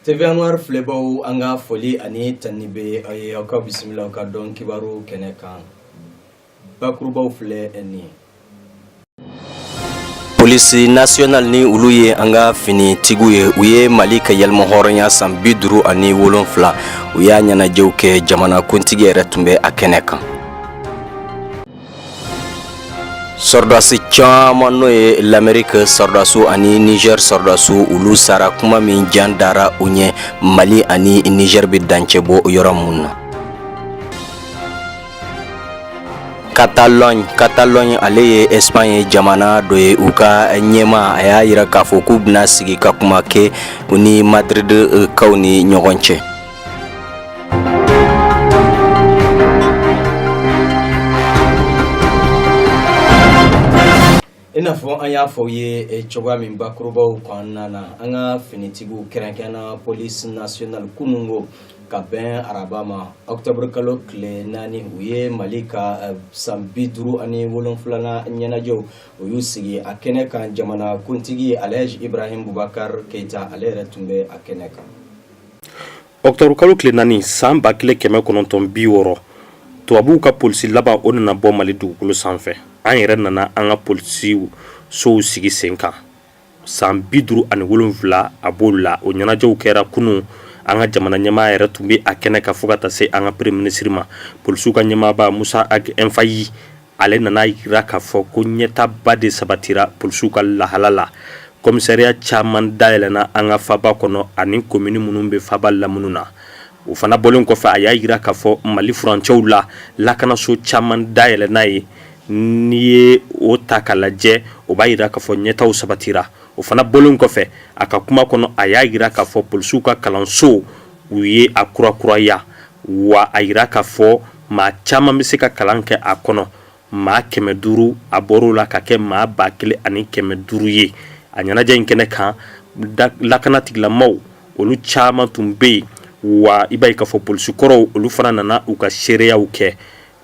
TV anwari filɛbaw an ka foli ani tanuni bɛ aw ye aw ka bisimila ka don kibaru kɛnɛ kan bakurubaw filɛ nin polisi nasiyonali ni olu ye an ka finitigiw ye u ye mali ka yɛrɛmahɔrɔnya san bi duuru ani wolonfila u y'a ɲɛnajɛw kɛ jamanakuntigi yɛrɛ tun bɛ a kɛnɛ kan sɔrɔdasi caman n'o ye lamerike sɔrɔdasiw ani nizɛr sɔrɔdasiw olu sara kuma min jan dara u ɲɛ mali ani nizɛr bɛ dancɛ bɔ yɔrɔ min na Catalogne Catalogne ale ye Espagne jamana dɔ ye u ka ɲɛmaa y'a jira k'a fɔ k'u bɛna sigi ka kuma kɛ u ni Madrid kaw ni ɲɔgɔn cɛ I n'a fɔ an y'a fɔ aw ye eh, cogoya min bakurubaw kɔnɔna na an ka finitigiw kɛrɛnkɛrɛnna polisi national kunun ko ka bɛn araba ma octobre kalo tile naani u ye mali ka eh, san bi duuru ani wolonfilana ɲɛnajɛw u y'u sigi a kɛnɛ kan jamana kuntigi alhaji ibrahim bubakar keita ale yɛrɛ tun bɛ a kɛnɛ kan Ɔkutɔburu kalo tile naani san ba kelen kɛmɛ kɔnɔntɔn bi wɔɔrɔ tubabuw ka polisi laban o nana bɔ mali dugukolo sanfɛ an yɛrɛ nana an ka polisi sow sigi sen kan san bi duuru ani wolonfila a b'o la o ɲɛnajɛw kɛra kunun an ka jamana ɲɛmaa yɛrɛ tun bɛ a kɛnɛ kan fo ka taa se an ka premier ministre ma polisiw ka ɲɛmaaba musa ag infahi ale nana jira k'a fɔ ko ɲɛtaaba de sabatira polisiw ka lahala la komisariya caman dayɛlɛna an ka faba kɔnɔ ani komini minnu bɛ faba lamini na o fana bɔlen kɔfɛ a y'a jira k'a fɔ mali furancɛw la lakanaso caman dayɛlɛna yen n'i ye o ta k'a lajɛ o b'a jira k'a fɔ ɲɛtaaw sabatira o fana bɔlen kɔfɛ a ka kuma kɔnɔ a y'a jira k'a fɔ polisiw ka kalanso u ye a kurakuraya wa a jira k'a fɔ maa caman bɛ se ka kalan kɛ a kɔnɔ maa kɛmɛ duuru a bɔra o la ka kɛ maa ba kelen ani kɛmɛ duuru ye a ɲɛnajɛ in kɛnɛ kan lakanatigilamaw olu caman tun bɛ yen wa i b'a ye k'a fɔ polisikɔrɔw olu fana nana u ka seereyaw kɛ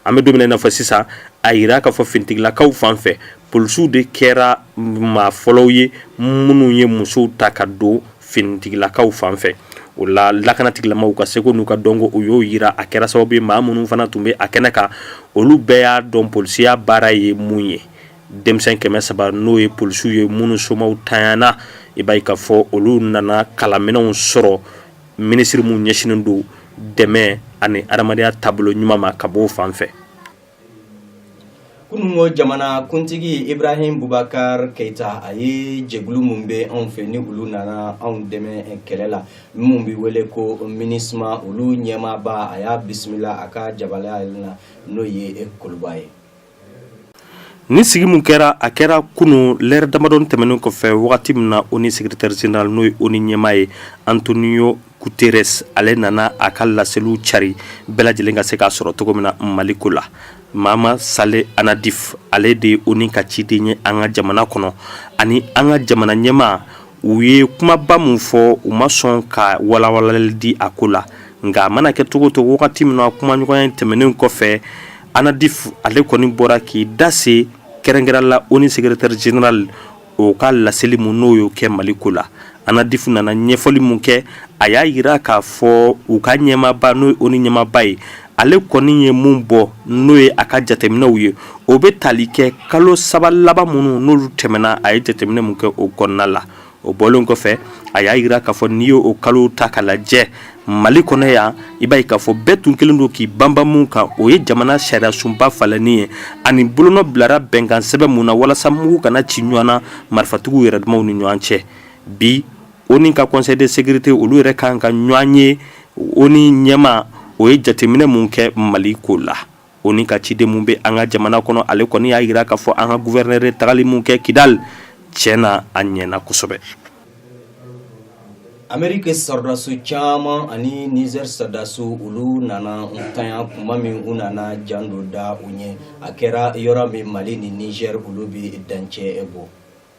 an bɛ don min na i n'a fɔ sisan a jira k'a fɔ finitigilakaw fan fɛ polisiw de kɛra maa fɔlɔw ye minnu ye musow ta ka don finitigilakaw fan fɛ o la lakanatigilamaw ka seko n'u ka dɔnko u y'o jira a kɛra sababu ye maa minnu fana tun bɛ a kɛnɛ kan olu bɛɛ y'a dɔn polisiya baara ye mun ye denmisɛn kɛmɛ saba n'o ye polisiw ye minnu somaw tanyana i b'a ye k'a fɔ olu nana kalanminɛnw sɔrɔ minisiri min ɲɛsinnen don dɛmɛ ani hadamadenya taabolo ɲuman ma ka bɔ o fan fɛ kununko jamanakuntigi ibrahim bubakari keyita a ye jɛkulu min bɛ anw fɛ ni olu nana anw dɛmɛ kɛlɛ la minnu bɛ wele ko minisma olu ɲɛmaaba a y'a bisimila a ka jabala in na n'o ye kuluba ye nin sigi min kɛra a kɛra kunun lɛrɛ damadɔ tɛmɛnen kɔfɛ wagati min na ONU secrétaire général n'o ye ONU ɲɛmaa ye antonio Guterres ale nana a ka laseliw cari bɛɛ lajɛlen ka se k'a sɔrɔ cogo min na Mali ko la. Mama Sale Anadif ale de ye ONU ka ciden ye an ka jamana kɔnɔ ani an ka jamana ɲɛmaa u ye kumaba min fɔ u ma sɔn ka walawalali di a ko la nka a mana kɛ cogo cogo wagati min na kumaɲɔgɔnya in tɛmɛnen kɔfɛ Anadif ale kɔni bɔra k'i da se kɛrɛnkɛrɛn la ONU secrétaire général o ka laseli min n'o y'o kɛ mali ko la anadif nana ɲɛfɔli min kɛ a y'a jira k'a fɔ u ka ɲɛmaaba n'o ye ONU ɲɛmaaba ye ale kɔni ye min bɔ n'o ye a ka jateminɛw ye o bɛ tali kɛ kalo saba laban minnu n'olu tɛmɛna a ye jateminɛ min kɛ o kɔnɔna la o bɔlen kɔfɛ a y'a jira k'a fɔ n'i y'o kalo ta ka lajɛ Mali kɔnɔ yan i b'a ye k'a fɔ bɛɛ tun kelen don k'i banban mun kan o ye jamana sariya sunba falenni ye ani bolonɔ bilara bɛnkan sɛbɛn mun na walasa mugu kana ci ɲɔgɔn na marifatigiw yɛrɛ damaw ni ɲɔgɔn cɛ bi ONU ka conseil de sécurité olu yɛrɛ kan ka ɲɔgɔn ye ONU ɲɛmaa o ye jateminɛ mun kɛ mali ko la ONU ka ciden min bɛ an ka jamana kɔnɔ ale kɔni y'a jira k'a fɔ an ka gouverneur ye tagali min kɛ kidali tiɲɛ na a ɲɛna kosɛbɛ ameriki sɔrɔdasi caman ani nizɛri sɔrɔdasi olu nana ntanya kuma min u nana jan dɔ da u ɲɛ a kɛra yɔrɔ min mali ni nizɛri olu bɛ dancɛ bɔ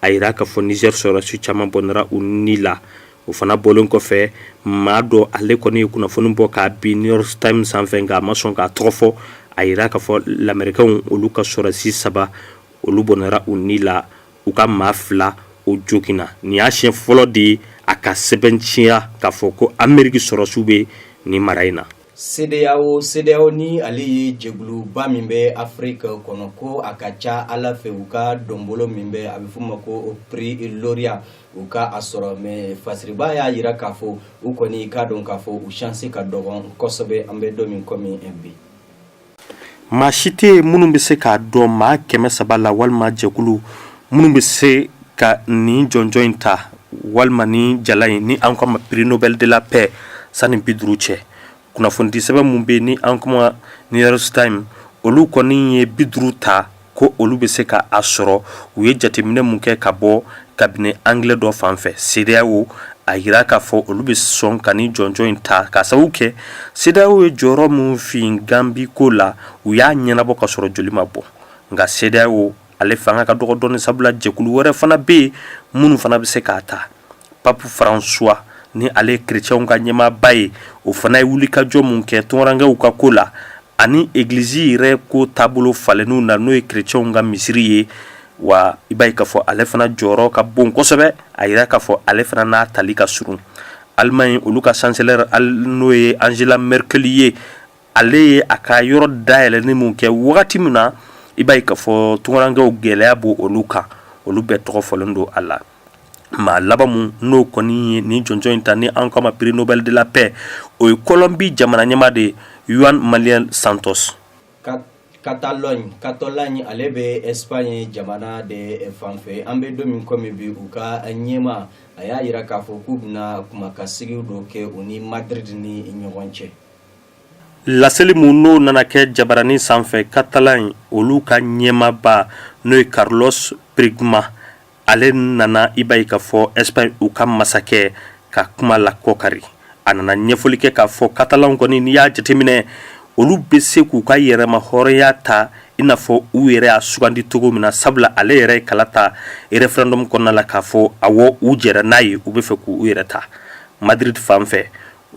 a yira k'a fɔ nizɛri sɔrɔdasi caman bɔnɛra u ni la o fana bɔlen kɔfɛ maa dɔ ale kɔni ye kunnafoni bɔ k'a bin new york times sanfɛ nka a ma sɔn k'a tɔgɔ fɔ a yira k'a fɔ lamɛrikɛnw olu ka sɔrɔdasi saba olu bɔnɛra u ni la u ka maa fila o joginna nin y'a siɲɛ fɔlɔ de ye a ka sɛbɛntiya k'a fɔ ko ameriki sɔrɔdasiw bɛ nin mara in na CEDEAO CEDEAO ni ale ye jɛkuluba min bɛ Afrique kɔnɔ ko a ka ca Ala fɛ u ka dɔnbolo min bɛ a bɛ f'o ma ko prix lauréat u ka a sɔrɔ mais fasiriba y'a jira k'a fɔ u kɔni k'a dɔn k'a fɔ u chance ka dɔgɔn kosɛbɛ an bɛ don min komi bi. Maa si tɛ yen minnu bɛ se k'a dɔn maa kɛmɛ saba la walima jɛkulu minnu bɛ se ka nin jɔnjɔn in ta walima ni jala in ni an k'a ma prix Nobel de la paix sani bi duuru cɛ kunnafoni di sɛbɛn mun bɛ ni an k'o ma New York Times olu kɔni ye bi duuru ta ko olu bɛ se k' a sɔrɔ u ye jateminɛ min kɛ ka bɔ cabinet anglais dɔ fan fɛ CEDEAO a jira k'a fɔ olu bɛ sɔn ka ni jɔnjɔn in ta k'a sababu kɛ CEDEAO ye jɔyɔrɔ min fin Gambie ko la u y'a ɲɛnabɔ ka sɔrɔ joli ma bɔ nka CEDEAO ale fanga ka dɔgɔ dɔɔnin sabula jɛkulu wɛrɛ fana bɛ yen minnu fana bɛ se k'a ta Pape François ni ale kerecɛnw ka ɲɛmaaba ye o fana ye wulikajɔ min kɛ tunkarankɛw ka ko la ani egilizi yɛrɛ ko taabolo falenniw na n'o ye kerecɛnw ka misiri ye wa i b'a ye k'a fɔ ale fana jɔyɔrɔ ka bon kosɛbɛ a jira k'a fɔ ale fana n'a tali ka surun Allemagne olu ka chancelière n'o ye Angela Merkel ye ale ye a ka yɔrɔ dayɛlɛnni min kɛ wagati min na i b'a ye k'a fɔ tunkarankɛw gɛlɛya b' olu kan olu bɛɛ tɔgɔ fɔlen don a la maa laban mun n'o kɔni ye ni jɔnjɔn in ta ni an k'a ma prix Nobel de la paix o ye Colombie jamana ɲɛmaa de Juan Manuel Santos Catalogne Catalogne ale bɛ Espagne jamana de fanfɛ an bɛ don min komi bi u ka ɲɛmaa a y'a jira k'a fɔ k'u bɛna kuma ka sigi dɔ kɛ u ni Madrid ni ɲɔgɔn cɛ laseli mun n'o nana kɛ jabaranin sanfɛ Catalogne olu ka ɲɛmaaba n'o ye Carlos Puigdemont ale nana i b'a ye k'a fɔ Espagne u ka masakɛ ka kuma la kɔkari a nana ɲɛfɔli kɛ k'a fɔ Catalan kɔni n'i y'a jateminɛ olu bɛ se k'u ka yɛrɛma hɔrɔnya ta i n'a fɔ u yɛrɛ y'a sugandi cogo min na sabula ale yɛrɛ ye kalata referendum kɔnɔna la k'a fɔ awɔ u jɛra n'a ye u bɛ fɛ k' u yɛrɛ ta Madrid fan fɛ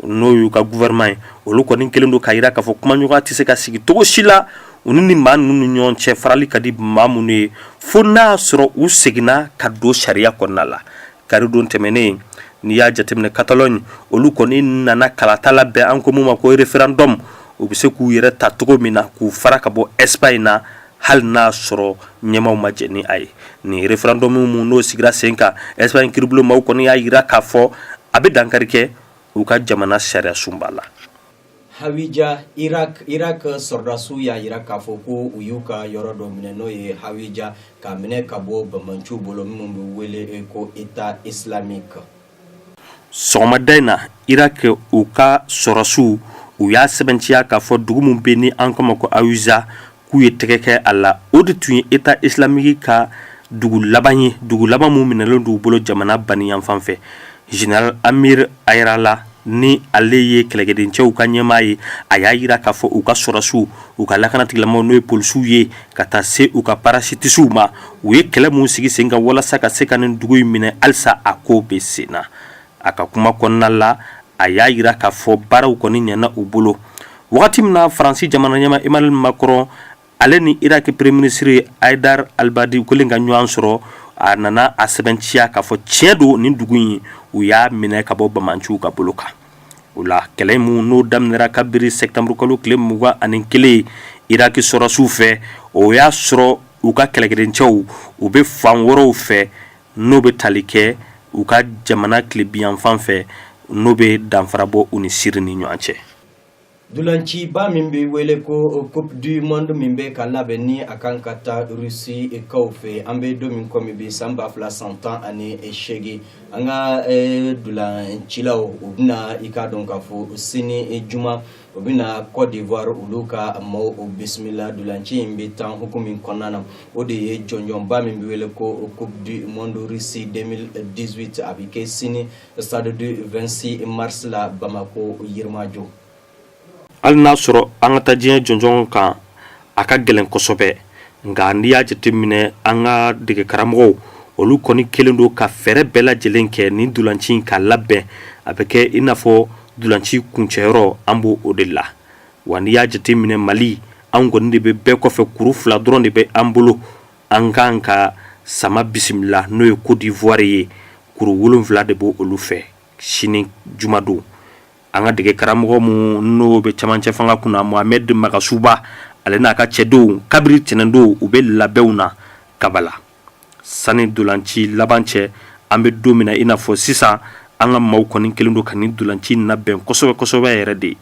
n'o y'u ka gouvernement ye olu kɔni kelen don k'a jira k'a fɔ kumaɲɔgɔnya tɛ se ka sigi cogo si la u ni maa ninnu ni ɲɔgɔn cɛ farali ka di maa minnu ye fo n'a y'a sɔrɔ u seginna ka don sariya kɔnɔna la kari don tɛmɛnen n'i y'a jateminɛ Catalogne olu kɔni nana kalata labɛn an ko min ma ko referendum u bɛ se k'u yɛrɛ ta cogo min na k'u fara ka bɔ Espagne na hali n'a y'a sɔrɔ ɲɛmaaw ma jɛn ni a ye nin referendum mun n'o sigira sen kan Espagne kiribulon maaw kɔni y'a jira k'a fɔ a bɛ dankari kɛ u ka jamana sariyasunba la Hawija Irak Irak sɔrɔdasiw y'a jira k'a fɔ ko u y'u ka yɔrɔ dɔ minɛ n'o ye Hawija k'a minɛ ka bɔ banbanciw bolo minnu bɛ wele ko Etat islamique sɔgɔmada in na iraki u ka sɔrɔdasiw u y'a sɛbɛntiya k'a fɔ dugu min bɛ ni an k'a ma ko hawija k'u ye tɛgɛ kɛ a la o de tun ye état islamique ka dugu laban ye dugu laban mun minɛlen don u bolo jamana baniyanfan fɛ général amir yarallah ni ale ye kɛlɛkɛdencɛw ka ɲɛmaa ye a y'a yira k'a fɔ u ka sɔrɔdasiw u ka lakanatigilamaaw n'o ye polisiw ye ka taa se u ka parasitisiw ma u ye kɛlɛ mun sigi sen kan walasa ka se ka nin dugu in minɛ halisa a ko bɛ sen na a ka kuma kɔnɔna la a y'a yira k'a fɔ baaraw kɔni ɲɛana u bolo wagati min na faransi jamana ɲɛmaa emmanuel macron ale ni iraki premier ministre haidar al-abadi kɛlen ka ɲɔgɔn sɔrɔ a nana a sɛbɛntiya k'a fɔ tiɲɛ don nin dugu in u y'a minɛ ka bɔ banbaanciw ka bolo kan o la kɛlɛ mun n'o daminɛra kabiri sɛtanburukalo tile mugan ani kelen iraki sɔrɔdasiw fɛ o y'a sɔrɔ u ka kɛlɛkɛdencɛw u bɛ fan wɛrɛw fɛ n'o bɛ tali kɛ u ka jamana tilebinyanfan fɛ n'o bɛ danfara bɔ u ni siri ni ɲɔgɔn cɛ Dulanciba min bɛ wele ko Coupe du monde min bɛ ka labɛn ni a kan ka taa Russie kaw fɛ, an bɛ don min komi bi san ba fila san tan ani seegin, an ka dulancilaw u bɛna i k'a dɔn k'a fɔ sini juma u bɛna Côte d'Ivoire olu ka maaw bisimila dolanci in bɛ tan hukumu min kɔnɔna na, o de ye jɔnjɔnba min bɛ wele ko Coupe du monde Russie 2018 a bɛ kɛ sini stade du 26 mars la bamako yirimajɔ hali n'a sɔrɔ an ka taa diɲɛ jɔnjɔn kan a ka gɛlɛn kosɛbɛ nka n'i y'a jateminɛ an ka dege karamɔgɔw olu kɔni kɛlen don ka fɛɛrɛ bɛɛ lajɛlen kɛ nin dolanci in ka labɛn a bɛ kɛ i n'a fɔ dolanci kuncɛyɔrɔ an b'o o de la wa n'i y'a jateminɛ mali anw kɔni de bɛ bɛɛ kɔfɛ kuru fila dɔrɔn de bɛ an bolo an ka kan ka sama bisimila n'o ye côte d'ivoire ye kuru wolonwula de b'olu fɛ sini jumadon an ka dege karamɔgɔ mun n'o bɛ camancɛ fanga kunna mohamed magasuba ale n'a ka cɛdenw kabiri tɛnɛndon u bɛ labɛnw na kabala sani dolanci laban cɛ an bɛ don min na i n'a fɔ sisan an ka maaw kɔni kɛlen don ka nin dolanci labɛn kosɛbɛ kosɛbɛ yɛrɛ de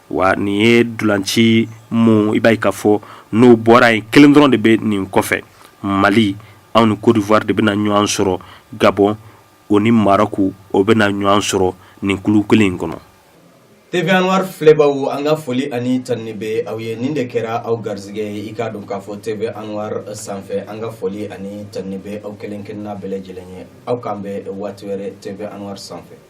Wa nin ye dulanci mun i b'a ye k'a fɔ n'o bɔra yen kelen dɔrɔn de bɛ nin kɔfɛ mali anw ni côte d'ivoire de bɛna ɲɔgɔn sɔrɔ gabon o ni maroc o bɛna ɲɔgɔn sɔrɔ nin kulu kelen in kɔnɔ TV anwar filɛbaw an ka foli ani tanuni bɛ aw ye nin de kɛra aw garisɛgɛ ye i k'a dɔn k'a fɔ TV anwar sanfɛ an ka foli ani tanuni bɛ aw kelen kelenna bɛɛ lajɛlen ye aw k'an bɛn waati wɛrɛ TV anwar sanfɛ